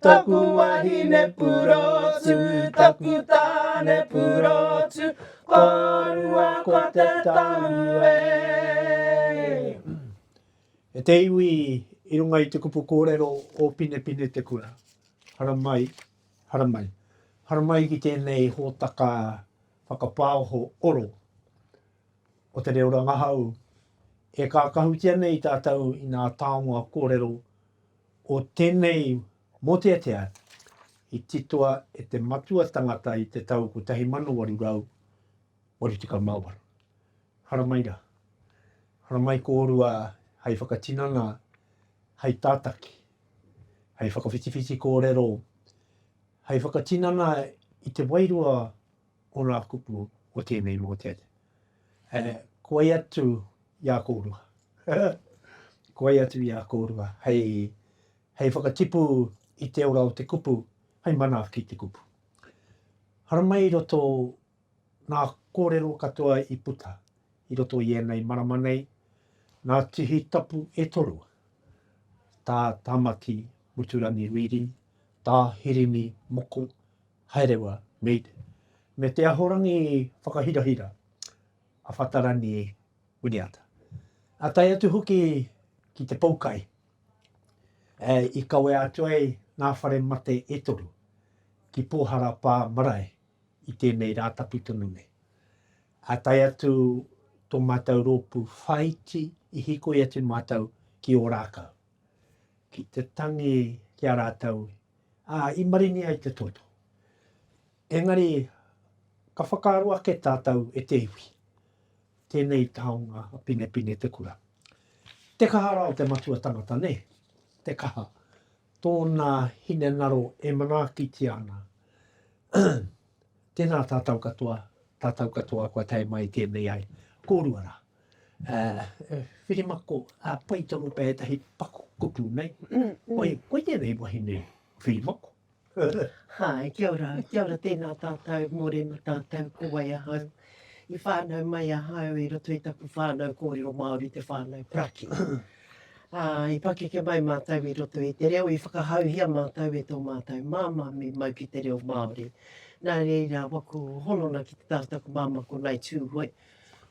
Taku wahine purotu, taku tāne purotu, ko rua ko te tahu e. E te iwi i runga i te kupu kōrero o Pinepine te kura. Haramai, haramai. Haramai ki tēnei hōtaka whakapāoho oro o te reo rangahau e kākahutia nei tātou i nā taonga kōrero O tēnei mōteatea i titoa e te matua tangata i te tau 1888. Haramai rā. Haramai kōrua hei whakatinana, hei tātaki, hei whakawhitiwhiti kōrero, hei whakatinana i te wairua o ngā kupu o tēnei mōteatea. He koi atu i a kōrua. Koi atu i a kōrua hei, hei whakatipu i te ora o te kupu, hei manaaki i te kupu. Haramai i roto nā kōrero katoa i puta i roto i ēnei marama nei, nā Tihi Tapu e toru, tā Tamaki Muturangi Reedy, tā Hirini Moko, Haerewa, Mead, me Te Ahorangi Whakahirahira, a Whatarani Winiata. A tae atu hoki ki te poukai, i kawea atu ai ngā whare mate e toru ki Pōhara Pā Marae i tēnei rā tapu tonu nei. A tae atu tō mātou rōpū whāiti i hikoi atu mātou ki Ōrākau, ki te tangi ki a rātou ā, i maringi ai te toto. Engari, ka whakaaro ake tātou e te iwi, tēnei taonga a Pinepine te kura. Te kaha rā o te matua tangata, nē, te kaha, tōna hinengaro e manaakitia ana. Tēnā tātou katoa, tātou katoa kua tae mai tēnei ai. Kōrua rā. whirimako, pai tonu pea ētahi paku kupu, nei? Koe, koe tēnei wahine whirimako. Hai, kia ora, kia ora, tēnā tātou, mōrena tātou, ko wai ahau? I whānau mai ahau i roto i taku whānau kōrero Māori, te whānau Praki. I pakeke mai mātou i roto i te reo, i whakahauhia mātou e tō mātou māmā me mau ki te reo Māori. Nā reira, waku honona ki te taha o taku māmā ko Ngai Tūhoe,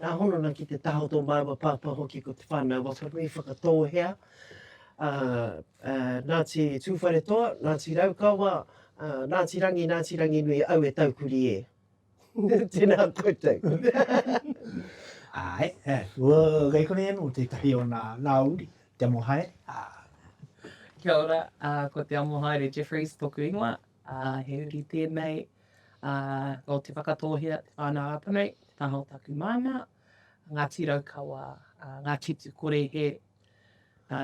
Nā Honona ki te taha o tō māua pāpā hoki ko Te Whānau Wakanui Whakatōhea, ā, ā, Ngāti Tūwharetoa, Ngāti Raukawa, ā, Ngāti Rangi, Ngāti Ranginui, au e taukuri e. Tēnā koutou. Āe, āe, kua kei konei anō tētahi o nā, nā uri, te Amohaere, ā. Kia ora, ā, ko Te Amohaere Jeffreys tōku ingoa, ā, he uri tēnei, ā, nō Te Whakatōhea, Te Whānau-a-Panui, te taha o taku māmā, Ngāti Raukawa, ā, Ngāti Tū-kore-hē, ā,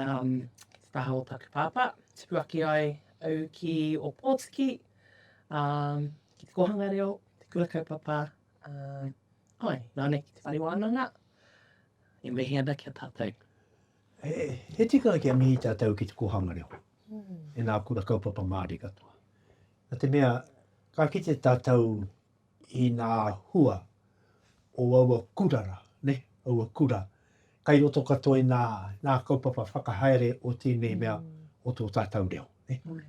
te taha o taku pāpā. Tupu ake ai au ki Ōpōtiki, ā, ki te kōhanga reo, te kura kaupapa, ā, āe, nāna ki te whare wānanga, e mihi ana ki a tātou. He tika kia mihi tātou ki te kōhanga reo e ngā kura kaupapa Māori katoa. Nā te mea, ka kite tātou i ngā hua o aua kura rā, ne? aua kura. Kai roto katoa i ngā, ngā kaupapa whakahaere o tēnei mea mm. o tō tātou reo. Ne? Mm.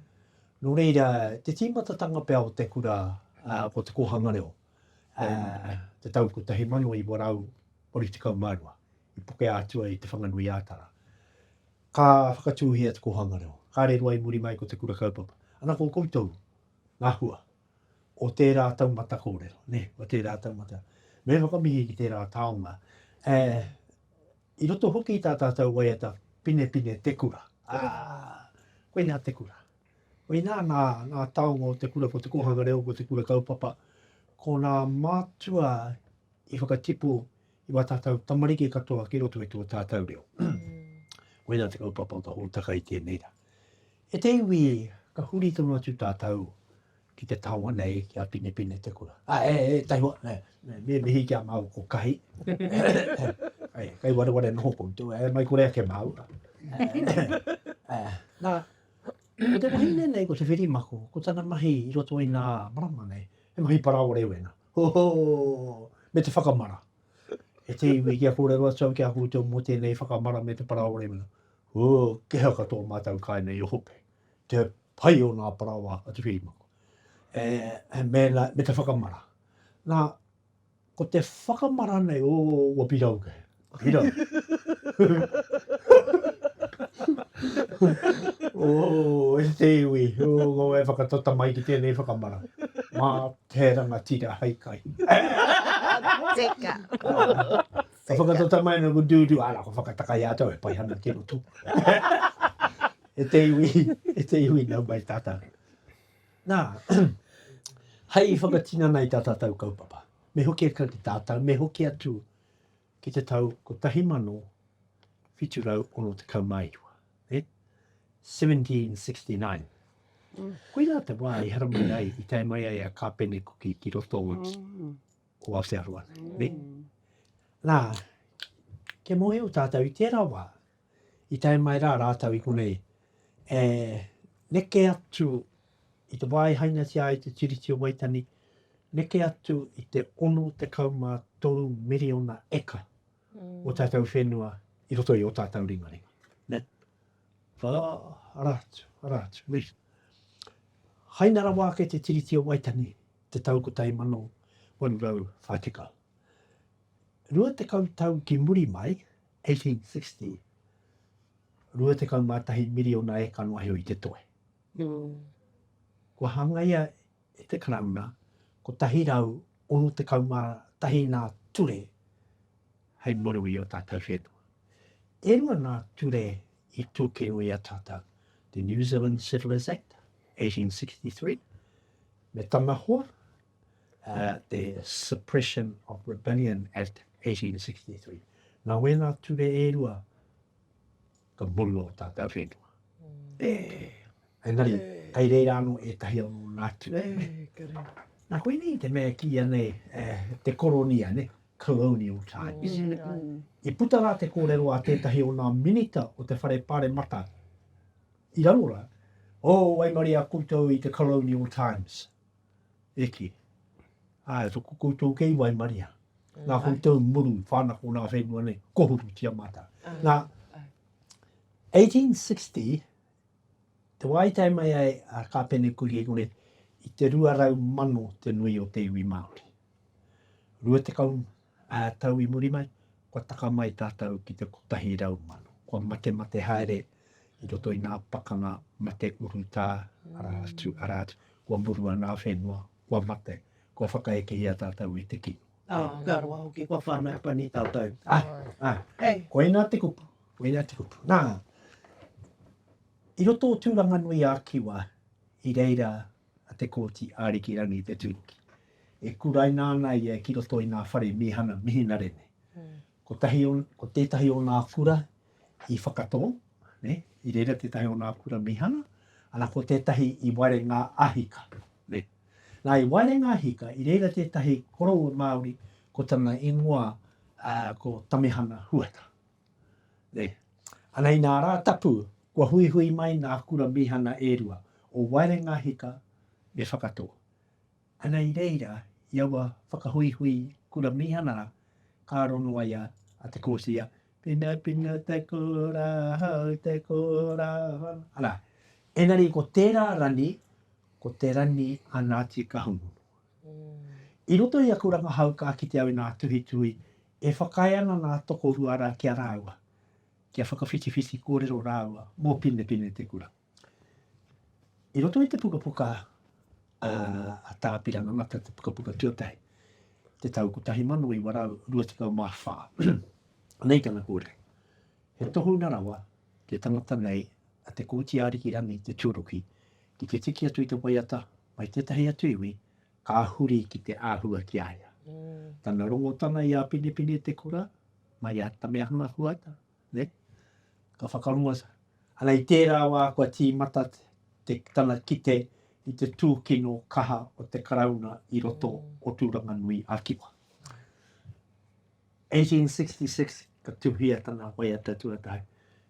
Nō reira, te tīmatatanga pea o te kura uh, ko te kōhanga reo, uh, te tau 1982, i pokea atu ai Te Whanganui-ā-Tara. Ka whakatūhia te kōhanga reo, ka riro ai muri mai ko Te Kura Kaupapa, ana ko koutou ngā hua o tērā taumata kōrero, nē, o tērā taumata. Me whakamihi ki tērā taonga, e, i roto hoki i tā tātou waiata Pinepine Te Kura. Ā, koinā te kura. Koinā ngā, ngā taonga o te kura, ko te kōhanga reo, ko te kura kaupapa, ko nā mātua i whakatipu i wā tātou tamariki katoa ki roto i tō tātou reo. Koinā te kaupapa ka hōtaka i tēnei rā. E te iwi, ka huri tonu atu tātou ki te taonga nei, ki a Pinepine te kura. A, e, e, tai hoa, e, e, me mihi ki a māu ko kahi. e, kai ware ware noho ko tō, e, mai kore ake māu. e, nā, ko te wahine nei, ko te whiri mako, ko tana mahi i roto i nā marama nei, he mahi paraore wena. Hoho! Me te whakamara. E te iwi, kia kōrero atu au ki a koutou mō tēnei whakamara me te paraoa rewina. Ū, kei haka tō mātou kai nei o Hope. Te pai o ngā paraoa a Te Whirimako. E, e mēnā, me te whakamara. Nā, ko te whakamara nei, ō, ua piraukē. Hira. oh, e te iwi. Oh, e whakatata mai ki tēnei whakamara. Mā te rangatira hai kai. Teka. Ka whakatata mai na ku dūdū. Ara, ko whakataka i ātou e pai hana ki roto. e te iwi, e te iwi nau mai tātou. Nā, hai whakatinana i tā tātou kaupapa. Me hoki atu ki tātou, me hoki atu ki te tau 1769, eh? 1769. Koirā te wā i haramai ai, i tae mai ai a Kāpene Kuki ki roto o, mm. o Aotearoa. Mm. Nā, kia mōhio tātou i tērā wā, i tae mai rā rātou i konei e neke atu i te wā e hainatia ai te Tiriti o Waitangi, neke atu i te 63 miriona eka o tātou whenua i roto i ō tātou ringaringa. Nē? Whā, arā atu, arā atu, nē. Haina rawa ake te Tiriti o Waitangi i te tau 1840. Rua tekau tau ki muri mai, 1860, rua tekau mā tahi miriona eka noa iho i te toe. Kua hangaia e te Karauna kotahi rau ono tekau mā tahi nā ture hei muru i o tātou whenua. E rua nā ture i tūkino i a tātou, te New Zealand Settlers Act, 1863, me tana hoa, te Suppression of Rebellion Act 1863. Nā wēnā ture e rua, ka muru o tātou whenua. E, engari, kei reira anō e tahi anō nātu. Nā koinei te mea ki anei te koronia, ne? colonial times. I puta rā te kōrero a tētahi o nā minita o te whare pāremata i raro rā, o oh, waimaria koutou i te colonial times. Eke. Ae, to ko koutou kei waimaria. Nga koutou muru whanako na whenua nei, kohuru tia mata. Na, 1860, te wai tai mai ai a Kapene Kuri Ekone, i te rua rau mano te nui o te iwi Māori. Rua te kau Ā tau i muri mai, kua taka mai tātou ki te kotahi rau mano. Kua matemate haere i roto i ngā pakanga mate urutā, arā atu, arā atu. Kua murua ngā whenua, kua mate, kua whakaekehia tātou e te kino. Ā, ka roa hoki, kua whānau pani tātou. Ā, ā, koinā te kupu, koinā te kupu. Nā, i roto o Tūranganui-ā-Kiwa, i reira a Te Kooti Arikirangi Te Turuki, e kuraina ana ia ki roto i ngā whare mīhana mihinare nei. Kotahi o, ko tētahi o ngā kura i Whakatō, ne, i reira tētahi o ngā kura mīhana, ana ko tētahi i Waerenga a Hika, ne. Nā, i Waerenga a Hika, i reira tētahi koroua Māori ko tana ingoa, ā, ko Tamihana Huata. Ana i nā rā tapu, kua huihui mai ngā kura mīhana e rua, o Waerengahika me Whakatō. Ana i reira, i aua whakahuihui kura mīhana rā, ka aro noa ia a Te Kooti, a. Pinapina te kura, hau te kura, whana. Arā, engari ko tērā rani, ko te rani a Ngāti Kahungunu. I roto i aku rangahau ka kite au i ngā tuhituhi E whakaae ana ngā tokorua rā ki a rāua, kia whakawhitiwhiti kōrero rāua mō Pinepinetekura. I roto i te pukapuka a Tāpirana Ngata, te pukapuka tuatahi, te tau 1924, nei tana kōrero, He tohunga rawa te tangata nei a Te Kooti Ariki Rangi Te Tuaroki ki te tiki atu i te waiata mai tētahi atu iwi Ka huri ki te āhua ki a ia. Tana rongotanga i a Penepene Te Kura, mai a Tamehana Huata, ne? Ka whakarongo, ana i tērā wā kua tīmata te, tana kite i te tūkino kaha o te Karauna i roto o Tūranganui a Kiwa. 1866 ka tuhia tana waiata tuatahi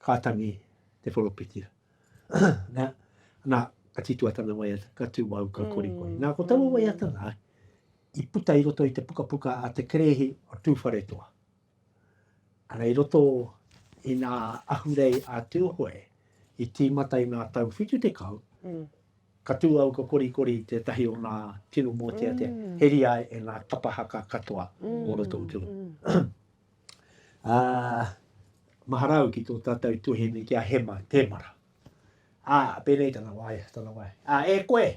Ka tangi te poropitira. Na, na, ka titua tana waiata, ka tu au, ka korikori. Na, ko taua waiata la, i puta i roto i te pukapuka a te Kerehi o Tuwharetoa. Ara i roto i nga ahurei a Tuhoe, i timata i nga tau whitu tekau, ka tu au, ka korikori i tetahi o nga tino moteatea, heri ai e nga kapa haka katoa o roto i te rohe. Ā, mahara au ki tō tātou tuhene ki a Hema Temara. Ā, pēnei tana waea, tana waea. Ā, e koe!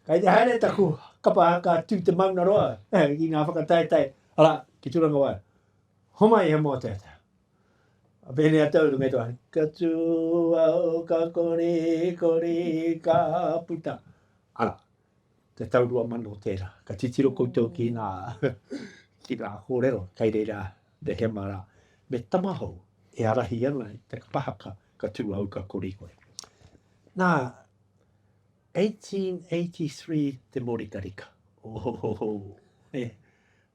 Kai te haere taku kapa ka tū te mauna roa eh, i ngā whakataetae. Ara, ki tūranga waea. Homai he mō tētā. Pēnei a tau runga toa. Ka tū au, ka kori, kori, ka puta. Ara, te tau rua mano tērā. Ka titiro koutou ki ngā, ki ngā kōrero, kei reira te hema rā, me tamahou e arahi ana i te kapahaka ka tū au ka kori koe. Nā, 1883 te morikarika. Ohohoho, e.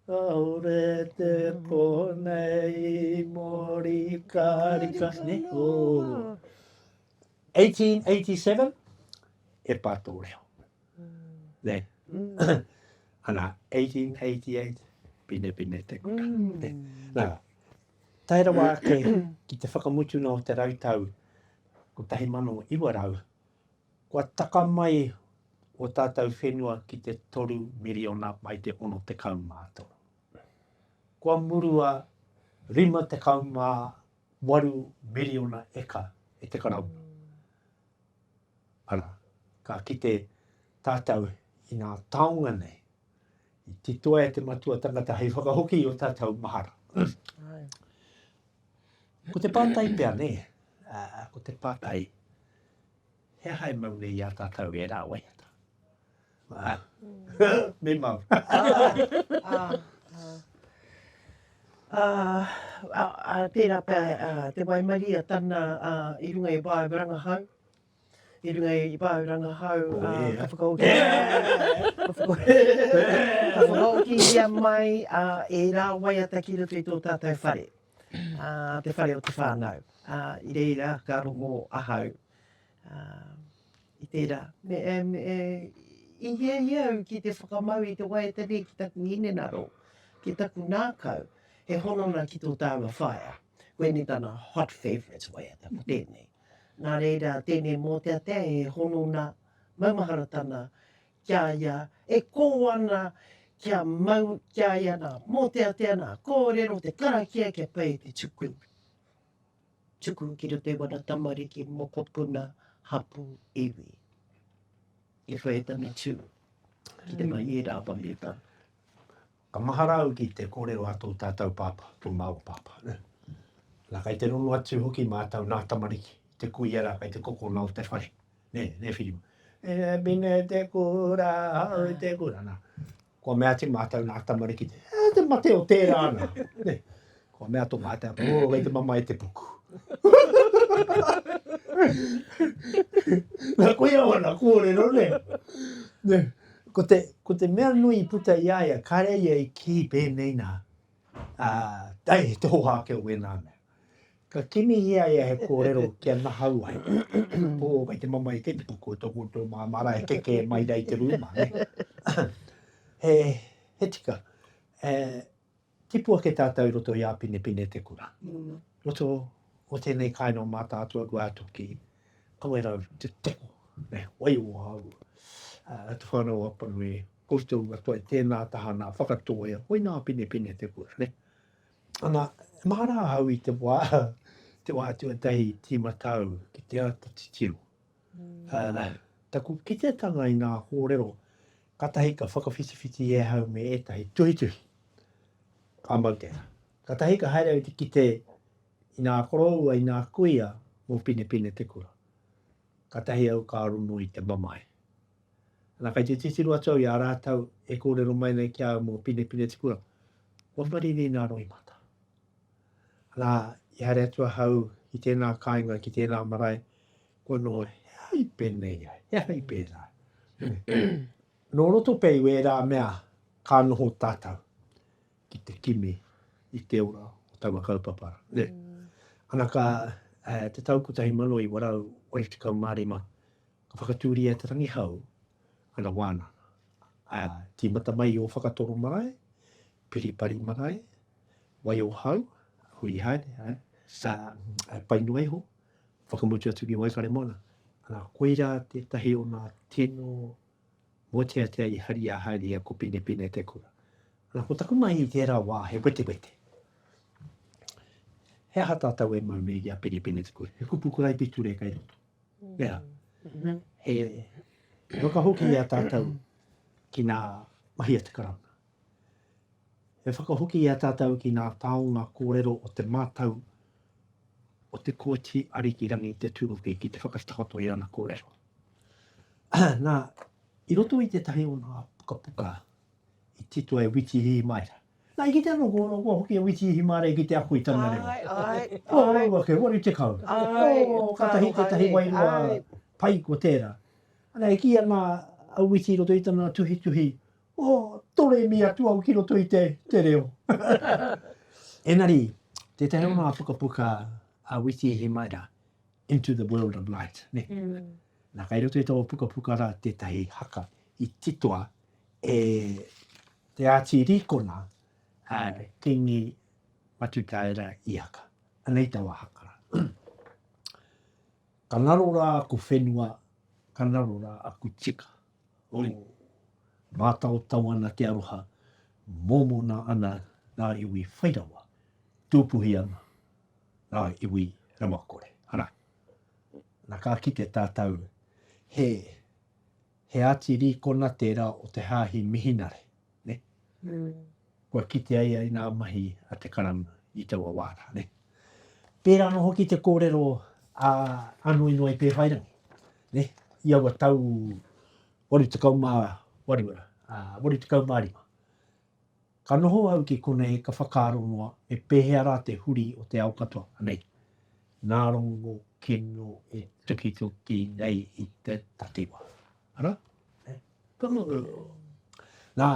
Kaore te po nei morikarika, ne? Oh. 1887, e pā tō reo. Nei. Ana, 1888, pine pine te kura. Mm. Nā, tae rawa ake ki te whakamutuna o te rautau 1900, kua taka mai o tātou whenua ki te toru miriona mai te ono te kaumātoro. Kua murua rima te kaumā 8 miriona eka e te Karauna. Ara, ka kite tātou i ngā taonga nei, i titoa e te matua tangata hei whakahoki i o tātou mahara. Ko te pātai pia ne, uh, ko te pātai, he aha e mau nei i a tātou e rā waiata? Me mau. Tērā pea te waimarie a Tana i runga i Wāau Rangahau, i runga i Wāau Rangahau ka whakaohihia mai ērā waiata ki roto i tō tātou whare, te whare o te whānau. I reira ka rongo ahau. I tērā. Me i hiahia au ki te whakamau i te waiata nei ki taku hinengaro, ki taku ngākau, he hononga ki tō tāua whaea. Koinei tana hot favourites waiata, ko tēnei. Nā reira, tēnei mōteatea he hononga maumaharatanga ki a ia e kō ana kia mau, ki a ia nā mōteatea, nā kōrero, te karakia kia pai i te tuku. Tuku ki te wera tamariki mokopuna hapū iwi. I whai tana tū ki te whai i ērā awamita. Ka mahara au ki te kōrero a tō tātou pāpā, tō māua pāpā. Nā, kei te rongo atu hoki mātou nā tamariki, te kuia rā, kei te kokona o te whare. Nē, nē Whiriwa. E mine te kura, hau te kura, nā. Kua mea atu mātou nā tamariki te, eh, te mate o tērā ana. Ne, kua mea tō mātou apa, oh, kei te mamae te puku. nā koe au ana kōrero, ne. ne. Ko, te, ko te mea nui i puta i aia, kāre ia i kī pēnei nā, uh, ai, te hoha ake o wēnā mea. Ka kimihia ia he kōrero kia nahau ai. Pō, kei te mamae kei te puku o tō koutou māmā rā e keke mai rā i te rūma, ne? He, he tika, e, tipu ake tātou i roto i Āpinepine te kura. Roto o tēnei kāinga o Mātaatua kua atu ki Kawerau te toko, ne, waiua au. Uh, te whānau Apanui, koutou katoa i tēnā taha nā whakatōia, hoi nā Āpinepine te kura, ne? Ana, e mahara ahau i te wā, te wā tuatahi i tīmata au ki te āta titiro. Ana, taku kitetanga i ngā kōrero, katahi ka whakawhitiwhiti e ahau me ētahi tuhituhi. Ka mau tēnā. Katahi ka haere au te kite i ngā koroua, i ngā kuia mō Pinepine te kura. Katahi au ka rongo i te mamae. Ana, kei te titiro atu au i a rātou e kōrero mai nei ki a au mō Pinepine Tipuranga. Kua marirī nā roimata. Ana, i haere atu ahau ki tēnā kāinga, ki tēnā marae, kua noho, he aha i pēnei ai, he aha i pērā. Nō roto pea i wērā mea ka noho tātou ki te kimi i te ora o taua kaupapa. Ne? Mm. Ana ka, uh, te tau 1985, Ka whakatūria e Te Rangihau ana wānanga, ā, tīmata mai i Ōwhakatoro marae, Piripari marae, Waiohau, huri haere, ā, ā, pai noa iho, whakamutu atu ki Waikaremoana. Ā, koirā tētahi o ngā tino mōteatea i haria haere i a Kopinepine Te Kura. Ā, ko taku mahi i tērā wā he wetewete. He aha tātou e mau nei i a Piripine Te Kura? He kupu karaipiture kei roto. Nea, he whakahoki i a tātou ki nā mahi a te Karauna. He whakahoki i a tātou ki nā taonga kōrero o te mātau o te Kooti Arikirangi Te Tūruki ki te whakatakoto i ana kōrero. Nā, i roto i tētahi o nā pukapuka i titoa e Witi Hīmaera, Na, i kitea noa kua, kua hoki a Witi i Himarea ki te ako i tana reo. Ae, ae, Ko ae. rāua kei waru tekau. Ae, Ko ka katahi aroha tētahi nei, wairua ae. pai, ko tērā. Na, e kī ana a Witi i roto i tana tuhituhi, O, toremi atu au ki roto i te, te reo. Engari, tētahi o ngā pukapuka a Witi i Himarea, Into the World of Light, nē. Nā, kei roto i tō pukapuka rā tētahi haka i titoa e Te Āti Rīkona, a Kīngi Matutaera Iaka. Anei taua haka rā. Ka ngaro rā aku whenua, ka ngaro rā aku tika. Oi. Mātaotao ana te aroha, mōmona ana ngā iwi whairawa, tūpuhi ana Ngā iwi Ramakore. Ana. Na ka kite tātou he he ati rīkona tērā o te Hāhi Mihinare, ne? Mm. Kua kite ai ai nā mahi a te karanga i taua wā rā, ne? Pērā anō hoki te kōrero a Anoinoa i Pēwhairangi, ne? I aua tau 88, uh, 85. Ka noho au ki konei ka whakaaro noa me pēhea rā te huri o te ao katoa nei. Nā Rongo kino e tukituki nei i te takiwā. Ara? Ka mutu. Nā,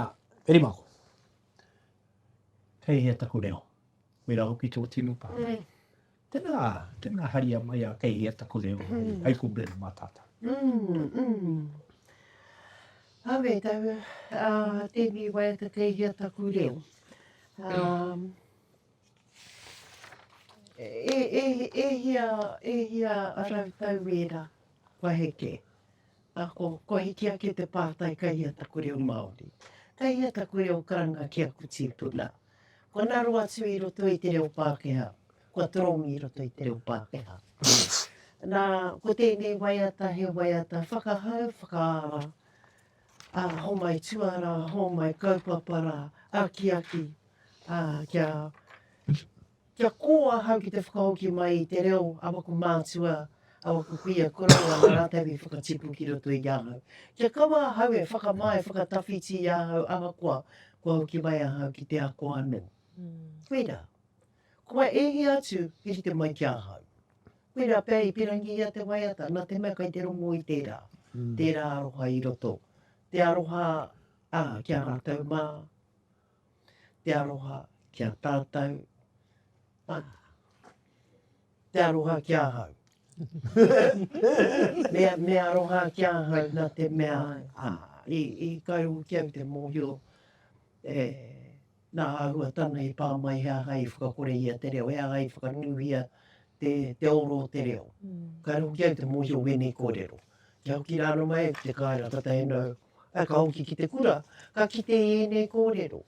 Peri Mako, kei hea taku reo? Koirā hoki tō tino pā. Tena, tena haria mai a Kei hea taku reo hai ko Brenda ma tata. Awe tau, tēnei waiata kei hea taku reo. E hia, e hia rau tau ēra kua heke, ako, kua hiki ake te pātai kei hea taku reo Māori. Kei hea taku reo karanga ki aku tīpuna. Kua naro atu i roto i te reo Pākehā, kua toromi i roto i te reo Pākehā. Nā, ko tēnei waiata he waiata whakahau, whakaara, ā, hōmai tuarā, hōmai kaupapa rā, akiaki, ā, kia, Kia kō ahau ki te whakahoki mai i te reo a waku mātua, a waku kuia koroua nā rātau i whakatipu ki roto i ahau. Kia kaua ahau e whakamā, e whakatawhiti i ahau ahakoa kua hoki mai ahau ki te ako anō. Koirā. Kua e hia atu i rite mai ki ahau. Koirā pea i pirangihia te waiata, nā te mea kai te rongo i tērā, tērā aroha i roto. Te aroha, ā, ki a rātau mā. Te aroha ki a tātou. Te aroha ki ahau. Me aroha ki ahau nā te mea i kai au ki au te mōhio e nā āhua tana i pā mai he aha i whakakorehia te reo, he aha i whakanuhia te oro o te reo. Kai au ki au te mōhio wēnei kōrero. Kia hoki rānō mai au ki te kāinga katahi nō. Ā, ka hoki ki te kura, ka kite i ēnei kōrero.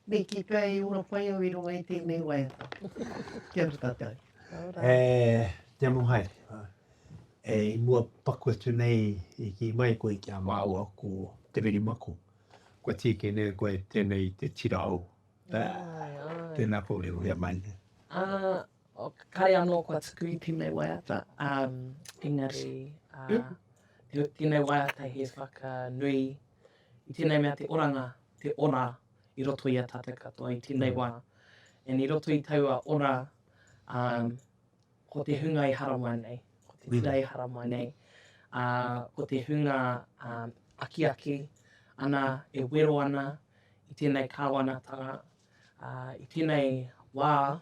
Me kī pea e ora pai au i runga i tēnei waiata. Kia ora tātou. Kia ora. E te amo haere. E i mua paku atu nei i kī mai koe ki a māua ko Te Whiri Mako. Kua tīkī nei koe tēnei te tira au. Āe, āe. Tēnā koe e uia mai nei. Ā, Kare anō kua tuku i tēnei waiata, engari tēnei waiata he whakanui i tēnei mea te oranga, te ora i roto i a tātou katoa i tēnei wā. And i roto i taua ora, ko te hunga i haramai nei, ko te tira i haramai nei, ko te hunga akiaki ana, e wero ana i tēnei Kāwanatanga, i tenei wa,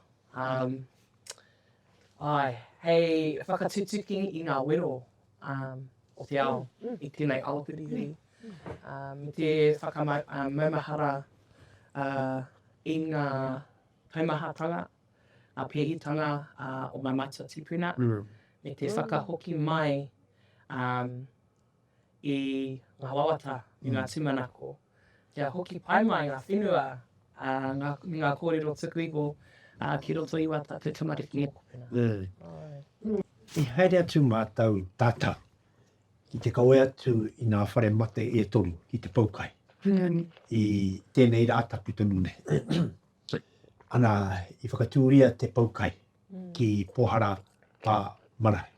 ae, hei whakatutuki i nga wero o te ao i tenei aotearoa, me te whakamaumahara i nga taumahatanga, nga pehitanga o nga matua tipuna, me te whakahoki mai i ngā wawata, i ngā tūmanako, kia hoki pai mai ngā whenua me ngā kōrero tuku iho ki roto i wata te tamariki e kopena. Nē. I haere atu mātou tata ki te kawe atu i ngā whare mate e toru ki te poukai i tēnei rā tapu tonu nei. Ana, i whakatūria te poukai. ki Pohara pa marae.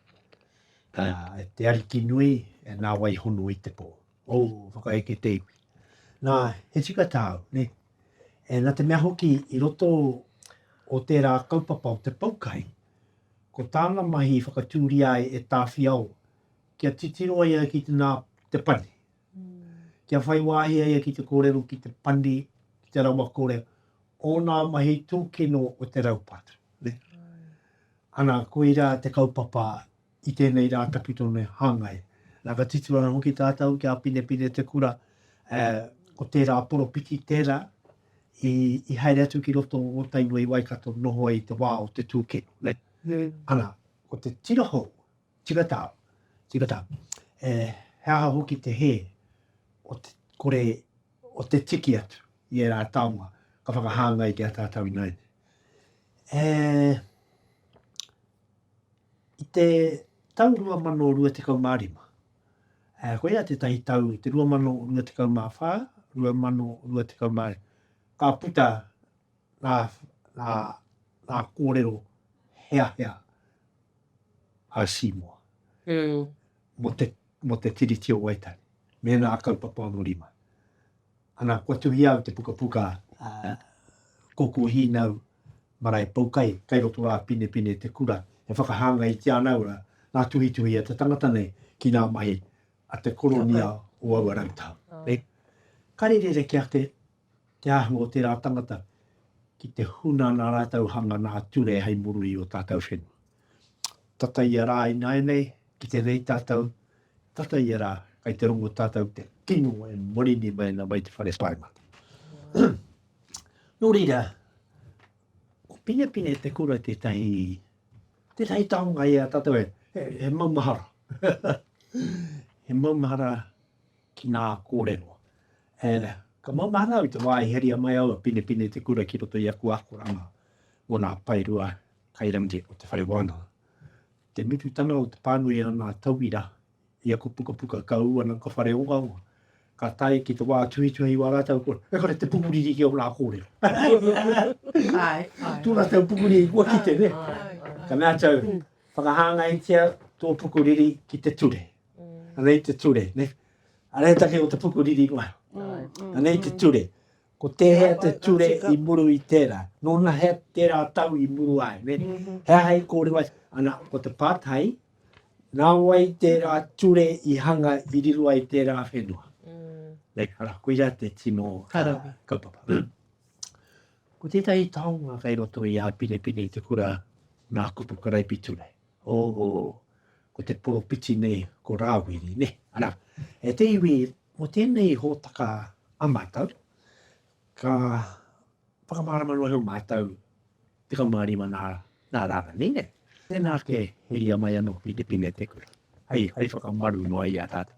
E te Ariki nui, e na wai hono i te po. O, whakaeke te iwi. Na, he tika tau, ne? E na te mea hoki i roto o tera kaupapa o te Poukai, ko tana mahi i whakaturia ai e Tawhiao kia titiro ai ki te na te pane. Kia whai wāhi a ia ki te kōrero ki te pani, ki te rawakore o ngā mahi tūkino o te raupatu. Ana, koirā te kaupapa i tēnei rā tawhito nei hāngai. Nā, ka titiro ana hoki tātou ki a Pinepine Te Kura, ko tērā poropiti tērā i haere atu ki roto o Tainui Waikato noho ai i te wā o te tūkino. Ana, ko te tira hou, Tika tā, tika tā. E, he aha hoki te hē o te kore, o te tiki atu i ērā taonga ka whakahāngai ki a tātou ināiane? E, i te tau 2025, e, koia tētahi tau, te 2024, 2025, ka puta ngā, ngā, ngā kōrero heahea a Seymour mm. mō, te, mō te Tiriti o Waitangi, mēnā a kaupapa anō rima. Ana, kua tuhia au te pukapuka uh, koko hīnau marae paukai, kai roto rā pine pine te kura, e whakahanga i te ana ora, ngā tuhituhi a te tangata nei ki ngā mahi a te koronia o aua rautau. Oh. Nei, ka rere reke ake te āhua o tērā tangata ki te huna nā rātou hanga nā ture hei muru i ō tātou whenua. Tata ia rā ināianei, ki te rei tātou, tata ia rā, kai te rongo tātou te kino e marini mai ana mai te whare paemata. Nō reira, ko Pinepine te kura tētahi, tētahi taonga i a tātou e, e, e maumahara. e maumahara ki ngā kōrero. E, ka maumahara au i te wā i heria mai aua pinepine i te kura ki roto i aku akoranga mō ngā paerua kairangi o te whare wānanga. Te murutanga o te pānui a ngā tauira i aku pukapuka ka ū ana ka whare ongaonga, ka tae ki te wā tuhituhi wā rātau kua, e kore te pukuriri ki o ngā kōrero. Ai, ai. Tō rātau pukuriri kua kite, ne? Ka mea tau, whakahāngaitia tō pukuriri ki te ture. Anei te ture, ne? Anei take o te puku riri mai. Anei te ture. Ko tēhea te ture i muru i tērā? Nōna he tērā tau i muru ai, ne? He aha i kōrero ai? Ana, ko te pātai, nā wai tērā ture i hanga i riro ai tērā whenua? Nei, ara, koira te tino kaupapa. Ko tētahi taonga kei roto i a Pinepine i te kura nā kupu karaipiture. Oho, ko te poropiti nei ko Rāwiri, nē? Arā, e te iwi, mō tēnei hōtaka a mātou, ka whakamārama noa iho mātou, 15 nā, nā Rāna nei, nē? Tēnā ake, heria mai anō ki te pine te kura, hei, hei whakamaru noa i a tātou.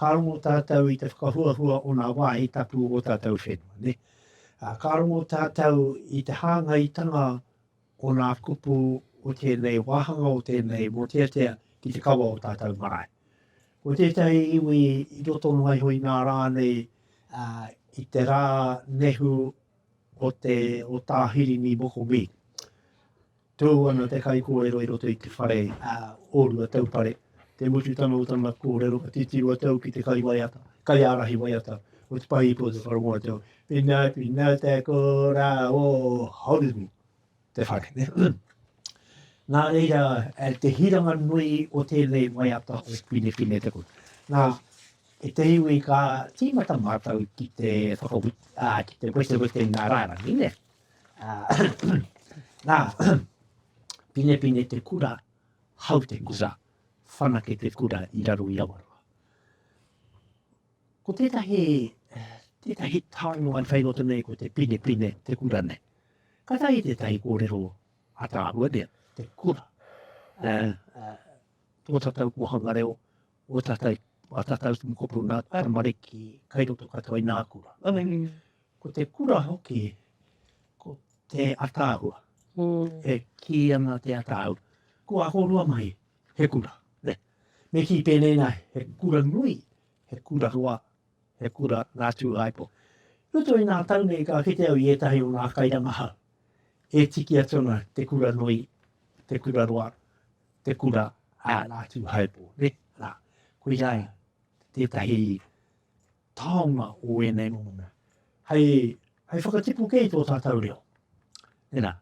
Ka rongo tātou i te whakahuahua o ngā wāhi tapu o tātou whenua, nē. Ka rongo tātou i te hāngaitanga o ngā kupu o tēnei wāhanga, o tēnei mōteatea ki te kawa o tātou marae. Ko tētahi iwi i roto noa iho i ngā rā nei, i te rā nehu o te, o Tā Hirini Mokomī. Tū ana te kaikōrero i roto i te whare a Ōrua Taupare. Te mutu tana o tana kōrero ka titiro atu au ki te kaiwaiata, kaiārahi waiata o te pahi ipu o te whare waiata. Pina, pina te kora o Horumi, te whare. Nā reira, te hiranga nui o tēnei waiata o Pinepine te kura. Nā, e te iwi ka tīmata mātou ki te whakawhiti, ki te wetewete nā rārangi, nē? Ā, nā, Pinepine te kura, hau te kura, whanake te kura i raro i Awaroa. Ko tētahi, tētahi taonga i whai roto nei ko te Pinepine te kura nei. Ka tahi tētahi kōrero a tāhua nei, te kura. Ā, ā, tō tātou kōhanga reo, o tātou, a tātou tumu kopo nā, karamariki, kai roto katoa i nā kura. Ā, Ko te kura hoki, ko te ataahua. E kī ana te ataahua, ko ahorua mai he kura. Me kī pēnei nā, he kura nui, he kura roa, he kura ngā tūāipo. I roto i nā tau nei ka kite au i ētahi o ngā kairangahau e tiki atu ana te kura nui, te kura roa, te kura a ngā tūāipo. Nē, nā, koirā tētahi taonga o ēnei momo mea, hei, hei whakatipu kē i tō tātou reo. Tēnā,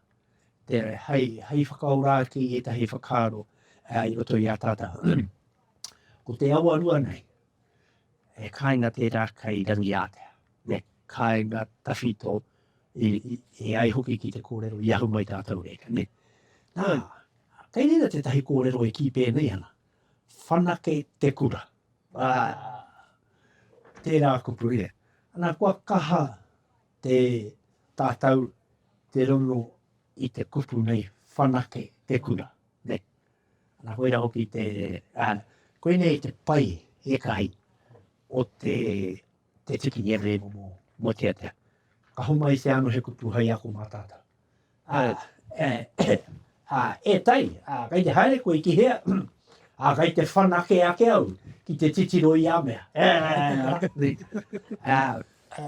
tēnā, hei, hei whakaora ake i ētahi whakaaro uh, i roto i a tātou. Ko te awa rua nei, e kāinga tērā kei rangi ātea. Ne, kāinga tawhito i, i, i ai hoki ki te kōrero i ahu mai tātou e. Ne, nā, kei rira tētahi kōrero e kī pēnei ana. Whanake te kura. Ā, tērā kupu ia. Ana, kua kaha te tātou te rongo i te kupu nei, whanake te kura, nē. Ana, koira hoki te, ā, koinei te pai ētahi o te. te tiki i ēnei momo moteatea. Ka homai te ano he kupu hai ako mā tātou. Ā, e, e, ā, e tai, ā, kei te haere koe ki hea? Ā, kei te whanake ake au ki te titiro i a mea. Ā, rakapi. Ā, ā,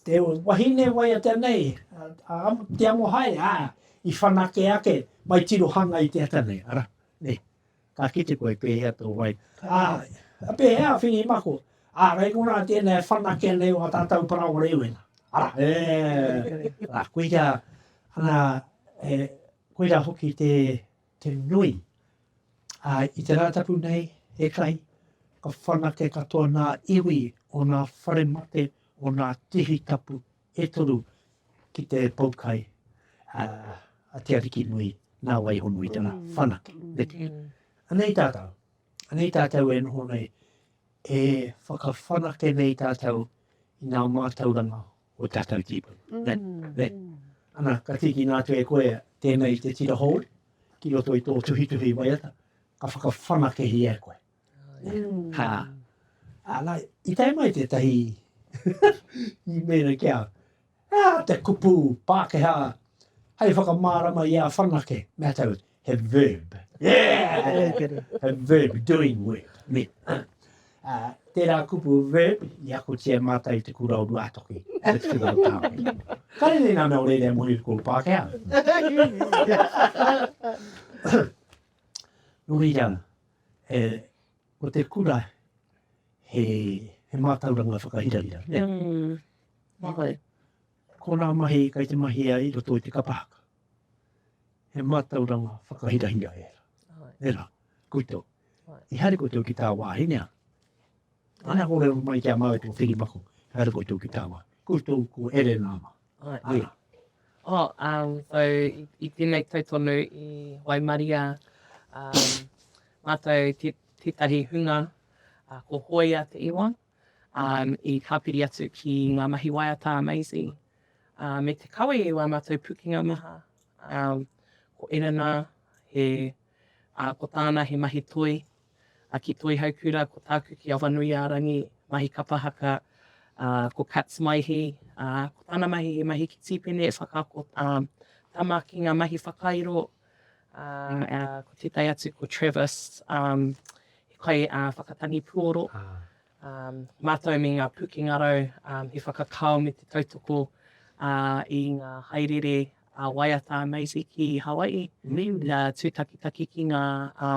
te wahine wai a te nei, ā, te amo haere, ā, i whanake ake, mai tirohanga i te ata nei, ara, nei. Ka kite koe pēhea tō wai. Āe. Pēhea a Whiri Mako? Ārai ko rā tēnā e whanake ana e ō tātou paraoa rēwena. Arā. Ē. Rā, koirā, rā, e, koirā hoki te, te nui. Ā, i te Rātapu nei, e kai, ka whanake katoa nā iwi o nā whare mate, o nā tihi tapu, e toru ki te pou kai a, a Te Arikinui nā Waihonui tana whanake. Neke. Anei tātou, anei tātou e noho nei, e whakawhanake nei tātou i nā mātauranga o tātou tīpuna. Mm. Ne, ne. Ana, ka tīkina atu e koe tēnei te tira hou ki roto i tō tuhituhi waiata, ka whakawhanakehia e koe. Ha. Ana, i tae mai tētahi i mēra ki a au, he aha te kupu Pākehā hei whakamārama i a whanake? Mea tau, he verb. he verb, doing work. Me, ha. Uh, tērā kupu verb, i akotia mātai te kura o Ruātoki. Let's give it a pound. Kare nei nā mea o reira mō hiruko Pākehā. Nō reira, He, ko te kura, he, he mātauranga whakahirahira, nē? Mm. Whai. Ko nā mahi kai te mahi ai roto i te kapa haka. He mātauranga whakahirahira e ra. Whai. E ra, kuto. Whai. I haere koutou ki tā wāhi, nea? Ana kōrero mai ki a mātou tō whiri mako, haere koutou ki tā wāhi. Koutou ko Ere nāma. I tēnei tau tonu i waimaria mātou tētahi hunga ko Hoea Te Iwa i tāpiri atu ki ngā mahi waiata a Maisie me te kawe i wā mātou pukenga maha. Ko Erina, ko tāna he mahi toi A ki Toihaukura ko tāku ki Awanuiārangi, mahi kapa haka, a, ko Kats Maihi, a, ko tāna mahi he mahi ki Tīpene e whakaako, a, tama ki ngā mahi whakairo, a, a, ko tētai atu ko Travis, a, he kai, a, whakatangi puoro, a, mātou me ngā pūkengarau, a, he whakakao me te tautoko, a, i ngā haereere a waiata a Maisie ki Hawaii, a, tūtakitaki ki ngā, a,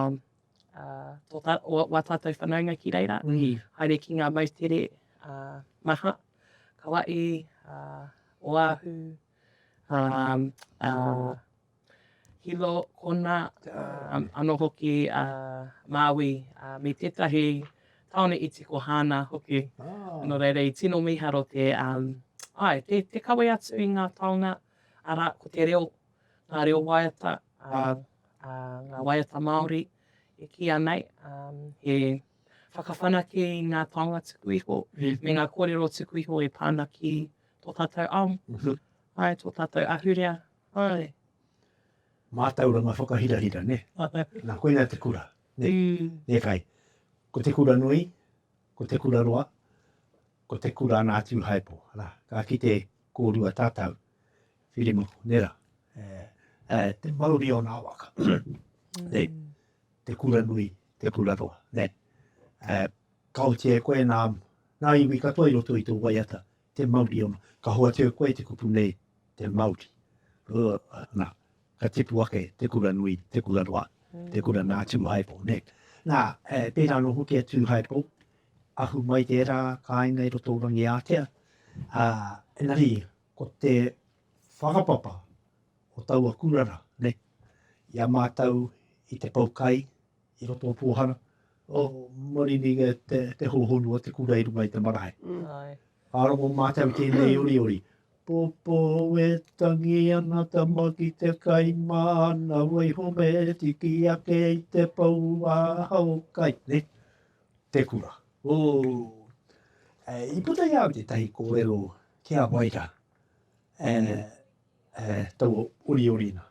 wā tātou whanaunga ki reira, haere ki ngā moutere maha, ka wae, Oahu, Hilo, Kona, anō hoki Māui, me tētahi tāone iti ko Hāna hoki. Nō reira, i tino mīharo te, āe, te kawe atu i ngā taonga, arā, ko te reo, ngā reo waiata, a ngā waiata Māori e kīia nei he whakawhanake i ngā taonga tuku iho me ngā kōrero tuku iho e pā ana ki tō tātou ao, ae, tō tātou ahurea, ae. Mātauranga whakahirahira, nē? Mātauranga. Nā, koinā te kura, nē? Nē kai. Ko te kura nui, ko te kura roa, ko te kura ana atu i Haepo, arā, ka kite kōrua tātou Whirimaku, nera, e, te mauri o nā waka, ne, te kura nui, te kura roa, ne, e, ka oti e koe nā, nā iwi katoa i roto i tō waiata, te mauri o nā, ka hoatu e koe te kupu nei, te mauri, uh, nā, ka tipu ake te kura nui, te kura roa, te kura nā Tūhaipo, ne. Nā, e, pērā nō hoki a Tūhaipo, ahu mai tērā kāinga i roto o Rangiātea, a, engari, Ko te whakapapa o taua kurara nei i a mātou i te pau kai i roto o Pōhara, o Marinige te hōhonu o te kura i runga i te marae. Ka rongo mātou i tēnei oriori. Popo e tangi ana tama ki te kai māna, waiho me tiki ake i te pau ā hao kai. te kura. Ooh. I puta i a au tētahi kōrero ki a Waira, tau oriorina.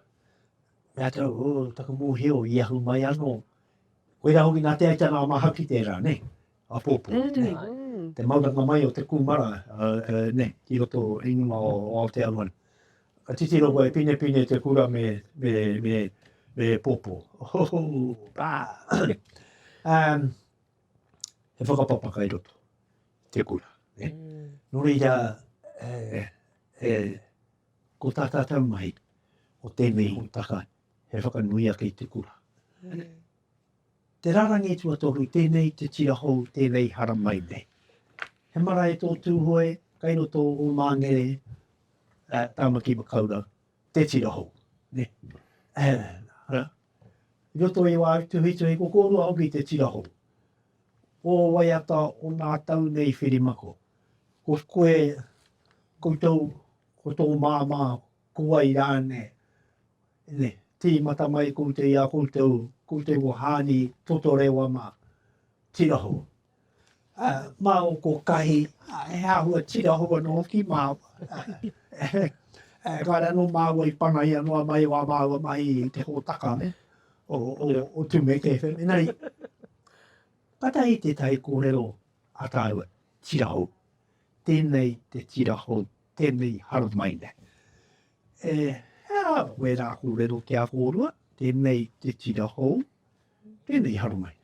Mea atu au, ooh, taku mōhio i ahu mai anō. Koirā hoki nā Te Aitanga a Māhaki tērā, nei, a Pōpō. Te mauranga mai o te kūmara, nei, ki roto o Aotearoa nei. Ka titiro koe, pinepine te kura me, me, me, me popo. um, he whakapapa kai roto, te kura. Eh? Mm. Nō reira, eh, eh, ko tā tātou mai, o tēnei hōtaka, he whakanuia kei te kura. Mm. Te rarangi tuatoru, tēnei te tira hou, tēnei haramai nei. He marae tō Tūhoe, kai roto o Māngere, Tāmaki Makaurau, te tira hou. I roto i wāu tuhituhi, ko kōrua hoki te tira hou. Ō waiata o nā tau nei whirimako, ko koe, koutou, ko tō māmā, Ko wai ra ne, ne timata mai koutou i a koutou, koutou ko Haani Totorewa ma Tiraho. A, ma o ko Kahi, he ahua Tiraho ano hoki maua. E, kare ano maua i panaia noa mai o a maua mahi i te hotaka ne, o, o, o Tumeke FM. Enari, katahi tetahi korero a taua Tiraho. Tenei te Tiraho. tēnei hau mai nei. E hea wērā kōrero ki a kōrua, tēnei te tira hou, tēnei hau mai.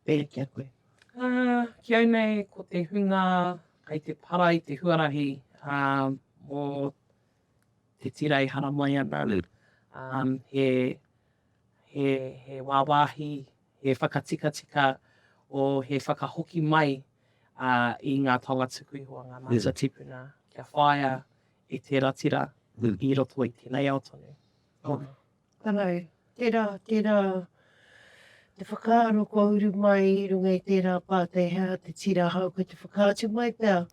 E ki a koe. Uh, ki au nei, ko te hunga kai te para i te huarahi uh, mō te tirei hara mai ana. Um, he, he, he wāwāhi He whakatikatika o he whakahoki mai i ngā taonga tuku iho a ngā mātua tipuna kia whāia e te ratira i roto i tēnei ao tonu. Tōna. Tana e. Tērā, tērā te whakaaro kua uru mai i runga i tērā pātai hea te tira hau kei te whakaatu mai pea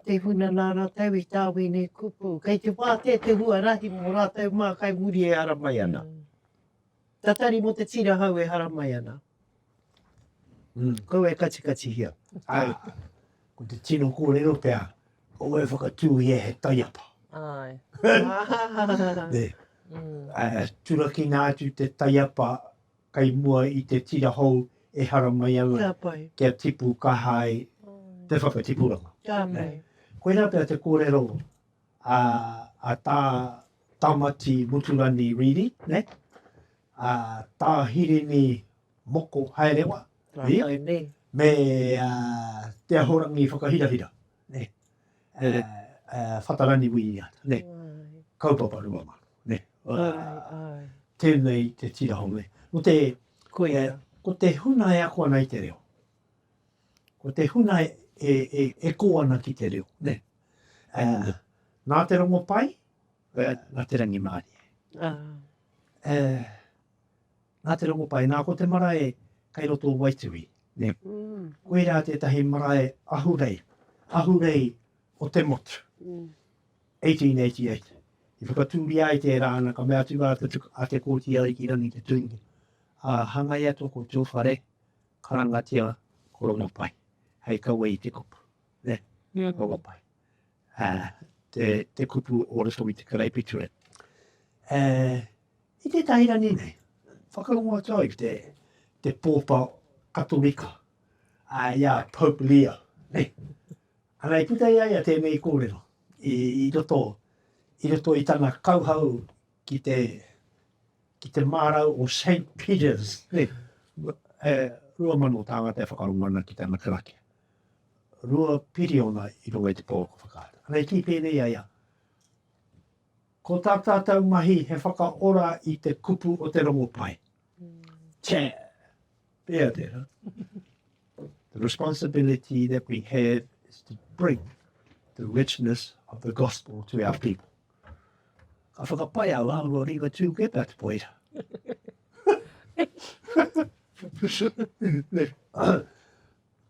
te huna nā rātou i tā wēnei kupu. Kei te wātea te huarahi mō rātou mā kai muri e ara mai ana. Tatari mo te tira hau e haramai ana. Kaua e katikatihia. Ai. Ko te tino korero pea, kaua e whakatu ia he taiapa. Ai. ne. Ai, turakina atu te taiapa kai mua i te tira hou e haramai ana. Kia pai. Kia tipu kaha ai te whakatipuranga. Kia pai. Koina pea te korero. ā, a Tā Tamati Muturani Reedy, nē, a Tā Hirini Moko Haerewa, nē, me a Te Ahorangi Whakahirahira, nē, a Whatarani Winiata, nē, kaupapa rua mano, nē, tēnei te tira hou, nē. Koia. Ko te huna e ako ana i te reo, ko te huna e kō ana ki te reo, nē. Nā te Rongopai, nā te rangimārie. Nā te Rongopai, nā ko te marae kei roto o Waituhi. Koirā tētahi marae ahurei, ahurei o te motu. 1888. I whakatūria ai tērā ana, ka mea atu rā a Te Kooti Arikirangi Te Tuinga, hangai atu ko tō whare, karangatia ko Rongopai, hei kawe i te kupu. Nē, nō ngā pae. Te kupu o roto i te karaipiture. I tētahi rangi nei, whakarongo atu au i te pōpa Katorika, i a Pope Leo, nē. Ana i puta i a ia tēnei kōrero, i roto, i roto i tana kauhau ki te, ki te mārau o Saint Peter's, nē. Rua mano tāngata e whakarongo ana ki tana karakia. rua piriona i runga i te pō ka whakaata. Ana i kī pēnei a ia, Ko tā tātou mahi he whakaora i te kupu o te rongopai. Tē! Pēa tērā. The responsibility that we have is to bring the richness of the gospel to our people. Ka whakapai a wā rua rīwa tū ke pēt poira.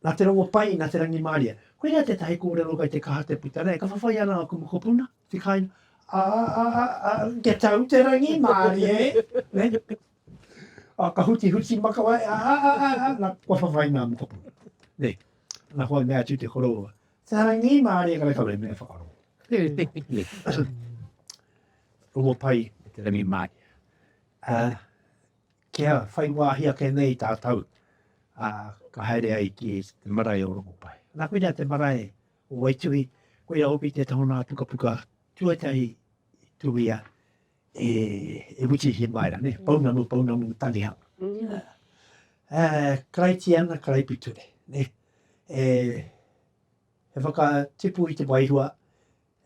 Nā te rongo pai, nā te rangimārie. Koinā tētahi kōrero kei te kaha te puta nei, ka whawhai ana aku mokopuna, te kāinga, Ā, ā, ā, ā, kia tau te rangimārie, nē? Ā, ka hutihuti makawe, Ā, ā, ā, ā, ā, nā, kua whawhai ngā mokopuna, nē? Nā hoa mea atu te koroua, Te rangimārie kare kau e mea whakarongo. Rongo pai, te rangimārie. Ā, Kia whai wāhi ake nei tātou, ā, ka haere ai ki te marae o Rongopai. Nā, koinā te marae o Waituhi, koia hoki te taha o nā pukapuka tuatahi i tuhia e, e Witi Himaera, nē, Pounamu, Pounamu Tanihamu. Ā, Karaitiana, Karaipiture, nē, e, he whakatipu i te wairua,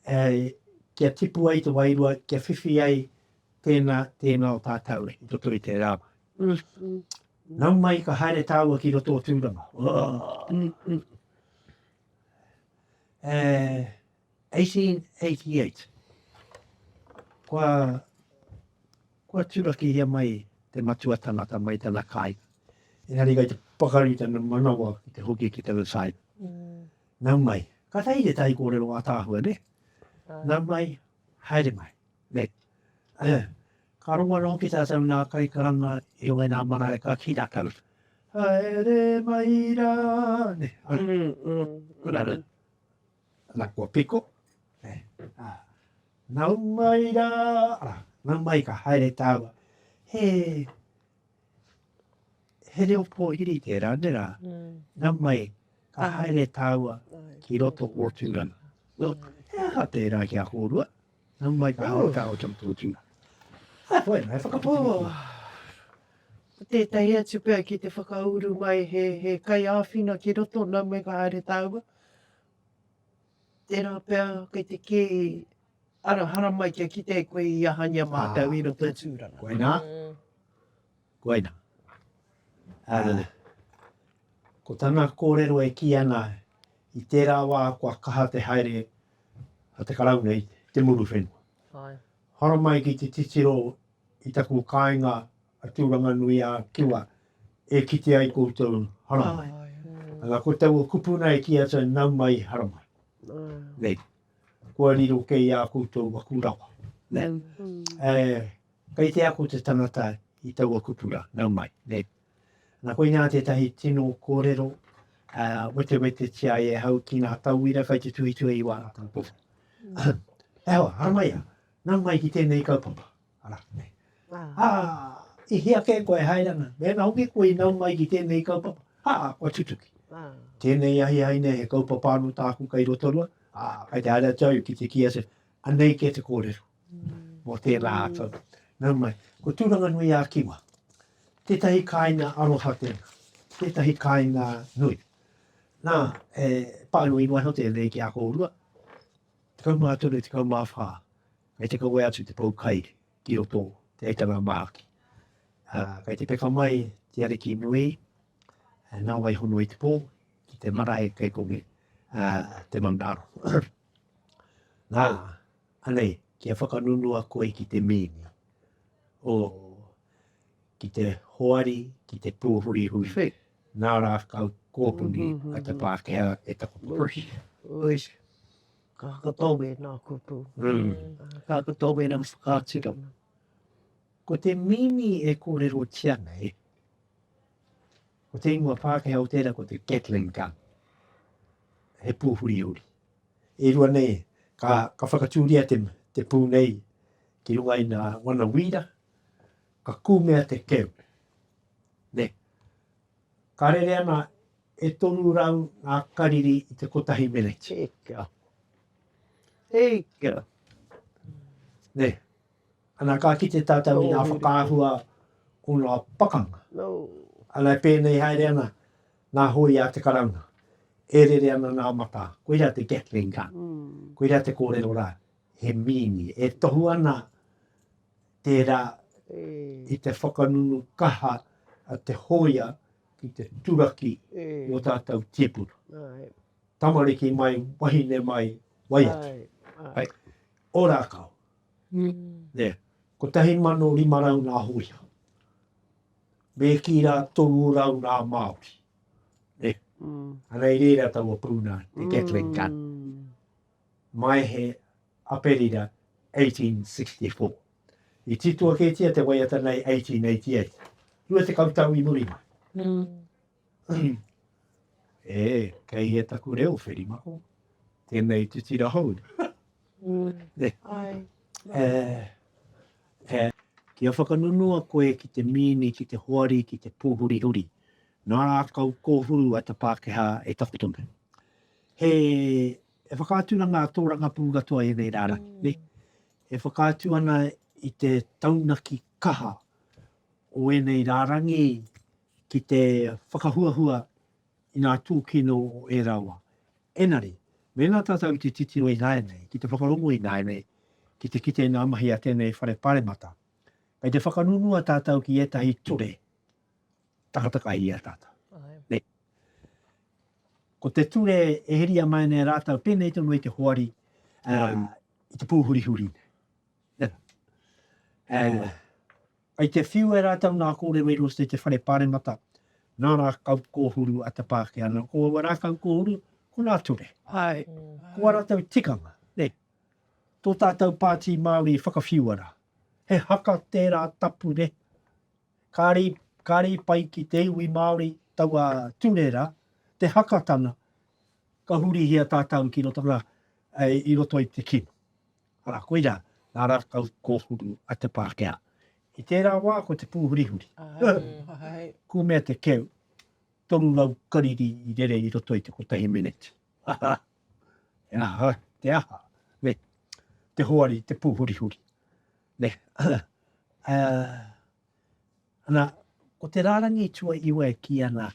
Ēe, kia tipu ai te wairua, kia whiwhi ai tēnā, tēnā o tātou i roto i te rā. Nau mai ka haere tāua ki roto o Tūranga. Ō! Ēe, 1888. Kua, kua turakihia mai te matua tangata mai tana kāinga. Engari kei te pakari tana manawa ki te hoki ki tana kāinga. Nau mai. Katahi te tai kōrero ataahua ne. Nau mai, haere mai. Ne. Ea. Ka rongo anō ki tātou nā kaikaranga i runga i nā marae ka ki rātou. Haere mai rā. Ne. Anō. Anā kua piko. Ne. Ā. Nau mai rā. Nau mai ka haere tāua. He. he reo pōhiri te ranera, nā mai ka haere tāua ki roto o Tūranga. Well, he aha tērā ki a kōrua, nā mai ka haere tāua ki roto o Tūranga. Hai whai, hai whakaputini. Ko tētahi atu pea ki te whakauru mai he, he kai āwhina ki roto, nā mai ka haere tāua. Tērā pea kei te kī, ara haramai kia kite e koe i ahangia mātou i roto i Tūranga. Koinā, koinā. Ko tana kōrero e kī ana, i tērā wā kua kaha te haere a te Karauna i te muru whenua. Haramai ki te titiro i taku kāinga a Tūranganui-ā-Kiwa e kite ai koutou haramai. Ana, ko taua kupuna e kī atu ana, nau mai, haramai. Nei, kua riro kei ā koutou aku rawa. Nei, e, kei te ako te tangata i taua kupuna, nau mai. Nei, ana, koinā tētahi tino kōrero, ā, wetewetetia ai e hau ki ngā tauira kai te tuhituhi i wāna taupō. He aha, haramai ia, nau mai ki tēnei kaupapa. Ara. Ā, i hea kē koe e haere ana? Mēnā hoki koe i nau mai ki tēnei kaupapa, ā, kua tutuki. Tēnei ahiahi nei he kaupapa anō tāku kei Rotorua, ā, kei te haere atu au ki te kī atu, anei kē te kōrero mō tērā ātou. Nau mai, ko Tūranganui-ā-Kiwa, tētahi kāinga aroha tēnā, tētahi kāinga nui. Nā, e pānui noa iho tēnei ki a kōrua, 13, 14, Kei te kawe atu te pou kai ki roto te heitanga mahaki. Kei te peka mai te ariki nui nā wai hono i te pō ki te marae kei kongi te manaro. Nā, anei, kia whakanunua koe ki te mīni. O, ki te hoari, ki te pōhuri hui. Nā rā kau kōpuni a te Pākehā e taku pōhuri. Ka hakatau e nā kupu. Ka hakatau e nā whakaaturanga. Ko te mīni e kōrerotia nei, ko te ingoa Pākehā o tērā ko te Gatling gun. He pūhuri uri. E rua nei, ka, ka whakatūria te, te pū nei ki runga i nā wana wīra, ka kūmea te keu. Ne. Ka rere ana E toru rau ngā kariri i te kotahi meneti. Hei kia. Hei kia. Nē. Ana ka kite tātou i ngā whakaahua o ngā pakanga. No. Ana e pēnei haere ana ngā hoi a te karauna. E rere ana ngā matā. Koira te Gatling gun. Mm. Koira te kōrero rā. He mīni. E tohu ana tērā e. i te whakanunu kaha a te hōia ki te turaki i o tātou tīpuna. Tamariki mai, wahine mai, wai atu. Hai, o rākau. Nē, ko tahi mano lima rau nā hoia. Mē ki rā toru rau nā Māori. Nē, anei rēra taua pūna, te Catholic Gun. Mai he Aperira 1864. I titoa kētia te waiata nei 1888, rua tekau tau i muri mai. E, kei hea taku reo, Wherimako? Tēnei te tira hou. E, e, kia whakanunua koe ki te mīni, ki te hoari, ki te pōhurihuri, nā rākau kōhuru a te Pākehā e takoto nei. He whakaaturanga a Tōrangapū katoa ēnei rārangi. E whakaatu ana i te taunaki kaha o ēnei rārangi ki te whakahuahua i ngā tūkino o ērā wā. Engari, mēnā tātou i te titiro ināianei, ki te whakarongo ināianei, ki te kite i ngā mahi a tēnei Whare Pāremata, kei te whakangunua tātou ki ētahi ture Tangata kai ia tātou. Nei. Ko te ture e heria mai nei rātou, pēnei tonu i te hoari, um, i te pūhurihuri nei. Yeah. Um, ai te whiu e rātou nā kōrero i rosto i te whare pāremata, nā rā kau kōhuru a te pāke ana. Ko aua rā kau kōhuru, ko nā ture. Ai. Ko a rātou tikanga, nei. Tō tātou pātī Māori whakawhiu ara. He haka tērā tapure. Kāre, kāre i pai ki te iwi Māori taua ture rā, te haka tana, ka hurihia tātau ki roto rā, i roto i te kino. Arā, koirā, nā rātau kōhuru a te Pākehā. I tērā wā ko te pūhurihuri. Āe. Kūmea te keu, toru rau kariri i rere i roto i te kotahi mineti. He aha, te aha, ne, te hoari, te pūhurihuri. Ne, uh, ana, ko te rārangi tua iwa e ki ana,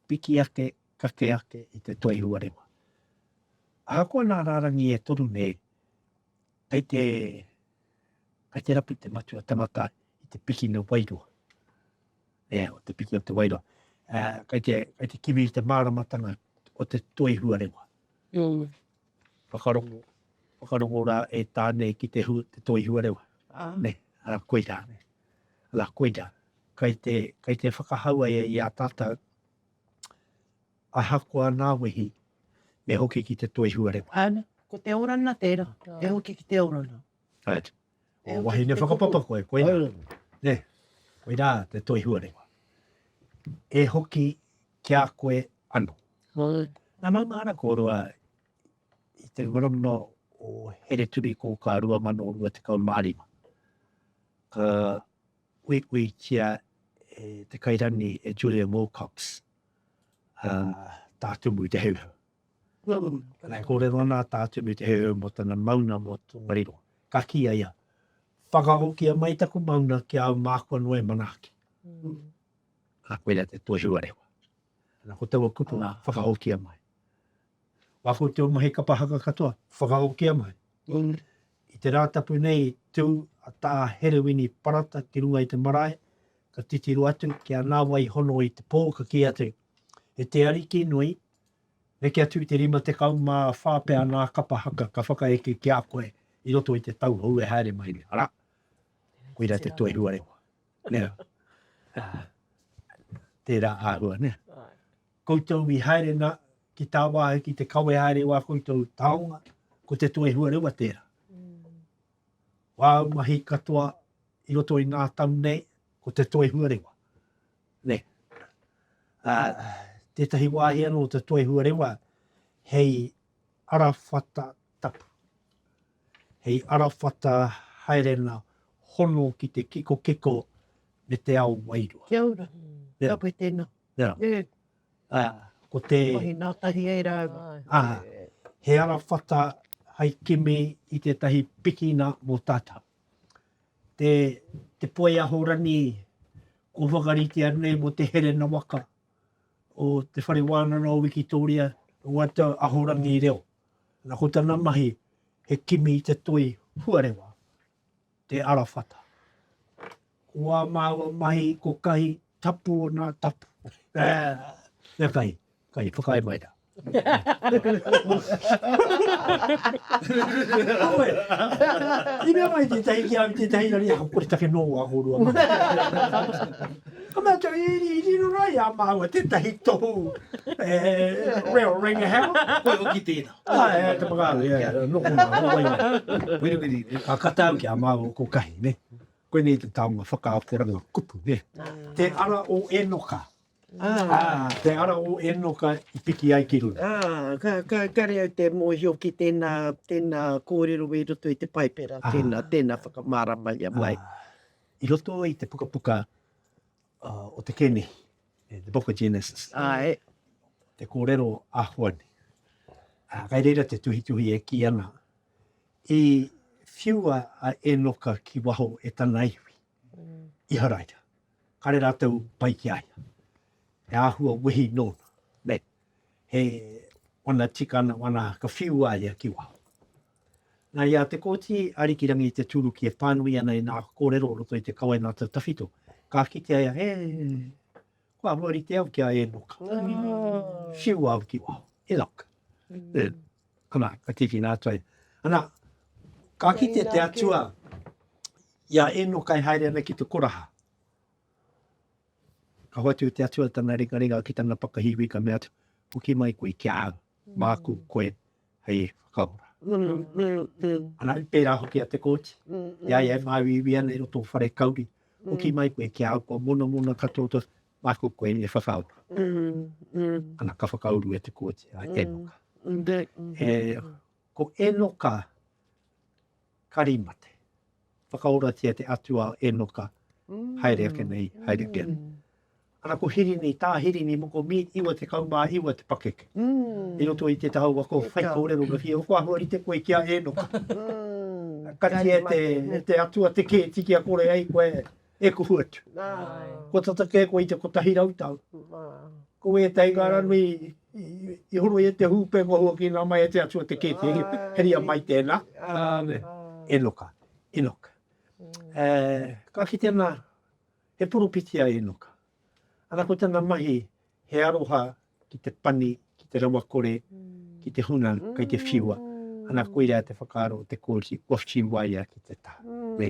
piki ake, kake ake i te toi huarewa. Ahakoa nā rārangi e toru nei, kei te, kei te rapu te matua tangata i te piki na wairoa. Nē, o te piki o Te Wairua. Kei te, kei te kimi i te māramatanga o te toi huarewa. Mm. Whakarongo, whakarongo rā e tā nei ki te, hu, te toi huarewa. Ah. Nē, ara koirā. Nē. Ara koirā. Kei te, kei te whakahaua e i a tātou a hakoa nā wehi me hoki ki te toi huarewa. Ana, ko te orana tērā. Te hoki ki te orana. Right. He o wahine whakapapa koe, koina. Ne, koina te toi huarewa. E hoki ki a koe ano. Na maunga ana kōrua i te marama o Here Turi ko ka rua mano rua te kau mārima. Ka ui ui tia e te kairani e Julia Wilcox uh, tā tumu te heuheu. E kōrero ana a Tātū me Te Heuheu mō tana mauna mō Tongariro. Ka kīia ia, Whakahokia mai taku mauna ki a au māku anō e manaaki. Nā koia te toi huarewa. Nā ko taua kupu nā, whakahokia mai. Wā ko te o mahi kapa haka katoa, whakahokia mai. I te Rātapu nei i tū a Tā Herewini Parata ki runga i te marae, ka titiro atu ki a Nāwai Hono i te pō, ka kī atu, E te Ariki nui, Neke atu i te 54 pea ngā kapa haka ka whakaeke ki a koe i roto i te tau hou e haere mai nei, arā, koirā te Toi Huarewa. Nea, tērā āhua, nē. Koutou i haere nā, ki tā wāhi, ki te kawe haere wā koutou taonga, ko te Toi Huarewa tērā. Wāu mahi katoa i roto i ngā tau nei, ko te Toi Huarewa. Nē. Ā, tētahi wāhi anō o te Toi Huarewa hei arawhata tapu, hei arawhata haerena hono ki te kikokiko me te ao wairua. Kia ora. Nē. Ka pai tēnā. Nē. Nē. Ā, ko te. Wāhi nā tahi ai rāua. Ā, he arawhata hai kimi i tētahi pikina mō tātau. te, te poi ahorani kua whakaritea nei mo te herena waka o te whare wānana o Wikitoria, o ata ahorangi reo. Na ko tana mahi, he kimi i te toi huarewa, te arawhata. Ko ā māua mahi ko kahi tapu o nā tapu. Ea kai, kai whakaae mai rā. Koe, i mea mai tētahi ki au tētahi rari ako kore take nō wā hōrua mai. Ka mea tau, i ri, i riro rā i a māua tētahi tohu e reo renga hea. Koe o ki tēnā. Ā, e, te whakaaro, e, noko nā, noko i. Wiri wiri. Ka kata au ki a māua ko kahi, ne? Koinei te taonga whakaakoranga kupu, nē. Te ara o Enoka. Te ara o Enoka i piki ai ki runga. Ka kare au te mōhio ki tēnā, tēnā kōrero i roto i te Paipera, tēnā, tēnā whakamāramaia mai. I roto i te pukapuka o te Kēnihi, The Book of Genesis. Āe. Te kōrero āhua nei. Kai reira te tuhituhi e kī ana, I whiua a Enoka ki waho e tana iwi, Iharaira, kare ratou pai ki a ia, he ahua wehi nona, me he wana tikana wana ka whiu a ia ki waho. Na ia te Koti Arikirangi te turuki e panui ana i na korero o roto i te Kawenata Tawhito, ka kitea ia, he. Ko ahua rite au ki a Enoka. Siu au ki waho. Enoka. Mm. Ana, ka tikina atu ai. Ana, ka kite te atua i a Enoka e haere ana ki te koraha. Ka hoatu te atua tana ringa ringa ki tana pakahiwi ka mea atu, puki mai koe ki a au, māku koe. hei whakaora. Ana, i pērā hoki a Te Kooti, i a ia e māuiui ana i roto o whare kauri, hoki mai koe ki a au, kua monamona katoa tō, māku koe e whakaora. Ana, ka whakauru e Te Kooti, a Enoka. E, ko Enoka, Kari mate. Whakaoratia te Atua o Enoka, haere ake nei, haere ake nei. Ana ko Hirini, tā Hirini moko mi, iwa tekau mā iwa te pakeke. I roto i te taua ko whaikōrero me whia, ko ahua rite koe ki a Enoka. Kati e te Atua te kēti kia kore ai koe, e kuhu atu. Kua tata kē koe i te kotahi rau tau. Ko ētahi ngā ranui i horo i e te hūpē kua huakina mai e te atua te kēkē. Heria mai tēnā. Enoka, Enoka. Ka kite nā, he poropiti a Enoka. Ana ko tana mahi, He aroha ki te pani, ki te rawakore, ki te hunga kei te whiua. Ana, koirā te whakaaro o te kōti, kua whiuaia ki te taha. Me.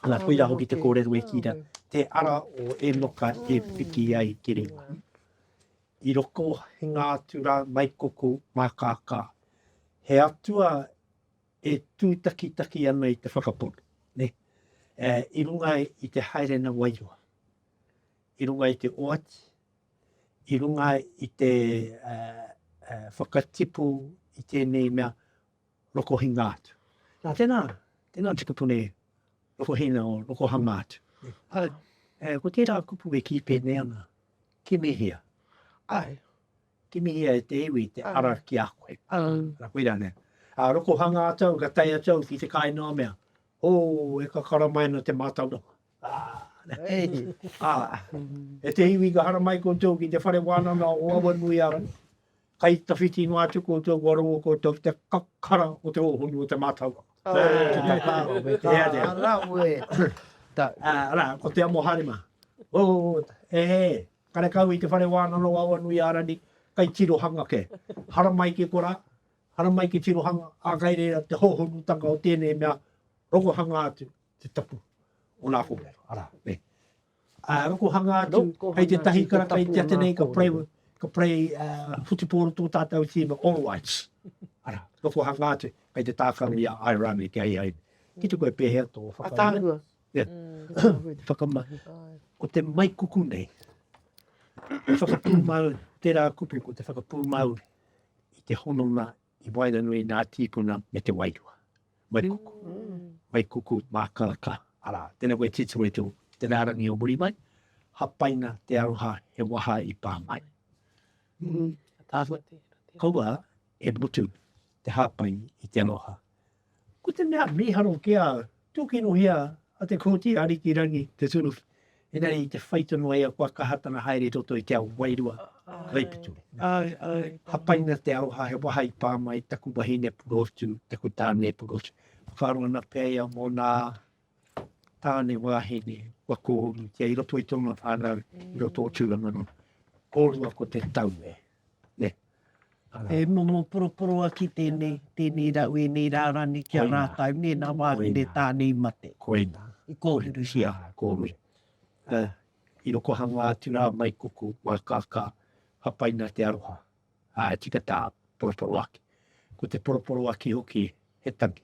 Ana, koirā hoki te kōrero e kī ra, te ara o Enoka e piki ai te ringa. I roko he ngā atu rā mai koko, mā kākā. He atua e tūtakitaki ana i te whakapono, ne? I runga i te haerenga wairua. i runga i te oati, i runga i te whakatipu i tēnei mea rokohinga atu. Nā, tēnā, tēnā tikapuna e rokohina o rokohanga atu. Ai, e, ko tērā kupu e kī pēnei ana, kimihia. Ai, kimihia e te iwi te ara ki a koe. Ai. Nā koira nea. A rokohanga atu au, ka tai atu au ki te kāinō mea, o, e ka karamaina te mātauranga. Ā, e te iwi ka hara mai koutou ki te whare wānanga o Awanuiārangi, kai tawhiti noa atu koutou kua rongo koutou ki te kakara o te ōhonu o te mātauranga. Arā, ko te amoharema. E he, karekau i te whare wānanga o Awanuiārangi, kai tirohanga kē. Hara mai ki korā, hara mai ki tirohanga, ā, kai reira te hōhonutanga o tēnei mea, rongohanga atu, te tapu o nā kōrero, arā, me. Ā, rokohanga atu, hei tētahi karaka i tia tenei, ka pray, ka pray, uh, whutupōro tō tātou tīma, all rights. Arā, rokohanga atu, hei te tākaro i a Airani, kia hei ai, ki te koe pēhea tō whakainua. Yeah. Mm, whakamahi. Ko te mai kuku nei, whakapūmau, tērā kupu ko te whakapūmau i te hononga I waenganui nā tīpuna me te wairua. Mai kuku, mai kuku mākaka, arā, tēnā koe titiro i te uku, te rārangi o muri mai, hapaina te aroha he waha i pā mai. Kaua e mutu te hapai i te aroha. Ko te mea mīharo kia tūkinohia a Te Kooti Ariki Rangi Te Turu, engari i te whai tonu ai a kua kaha tana haere i roto i te ao wairua kaipito. Hapaina te aroha he waha i pā mai taku wahine purotu, taku tāne purotu. Whakaaro ana pea ia mō nā tāne wāhine kua kōhurutia i roto i tōna whānau, i roto o Tūranganui. Kōrua ko te tau e. Ne. E momo poroporo aki tēnei, tēnei rau, ēnei rārani ki a rātau, nē, nā wāhine tāne i mate. Koina. I kōhurutia. Kōrua. Uh, I rokohanga atu rā mai kuku, mai kākā, hapaina te aroha. Ā, uh, tika tā, poroporo aki. Ko te poroporo aki hoki, he tangi.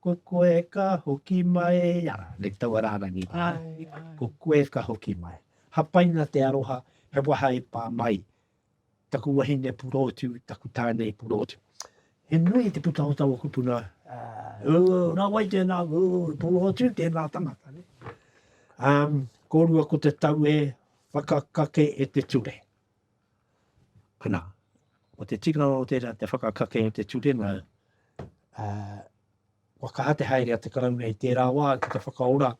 Ko koe ka hoki mai a. Nei taua rārangi. Ko koe ka hoki mai. Hapaina te aroha, he waha e pā mai. Taku wahine purotu, taku tāne purotu. He nui te pūtahotanga o kupuna. Ū, nā wai tēnā ū, purotu, tēnā tangata. Kōrua ko te tau e whakakake e te ture. Nā, ko te tikanga o tērā te whakakake i te turenga, ā, kua kaha te haere a te Karauna i tērā wā ki te whakaora,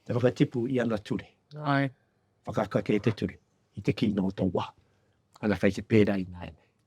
te whakatipu i ana ture. Whakakake i te ture, i te kino o tō wā. Ana kei te pērā ināianei.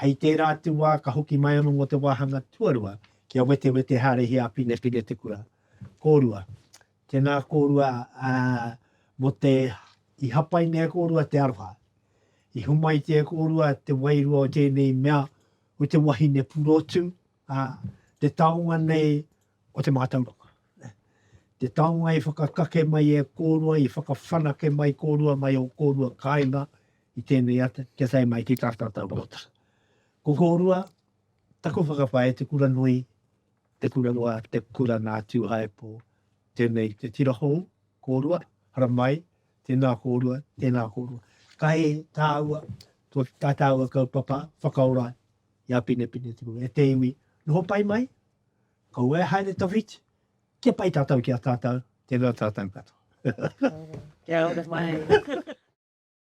Hei tērā atu wā ka hoki mai anō mō te wāhanga tuarua kia wetewete hārihia a Pinepine te kura. Kōrua. Tēnā kōrua, ā, mō te, i hapaina e kōrua te aroha. I homaitia e kōrua te wairua o tēnei mea, o te wahine purotu, ā, te taonga nei o te mātauranga. Te taonga i whakakake mai e kōrua, i whakawhanake mai kōrua mai ō kōrua kāinga i tēnei ata, kia tae mai ki tā tātou rōtara. Ko kōrua, taku whakapae, te kura nui, te kura roa, te kura nā Tūhaepō, tēnei te tira hou, kōrua, haramai, tēnā kōrua, tēnā kōrua. Kai tāua, tā tāua kaupapa whakaora i a Pinepine te Rua, e te iwi, noho pai mai, kaua e haere tawhiti, kia pai tatou ki a tatou, tena tatou katoa. Kia ora mai.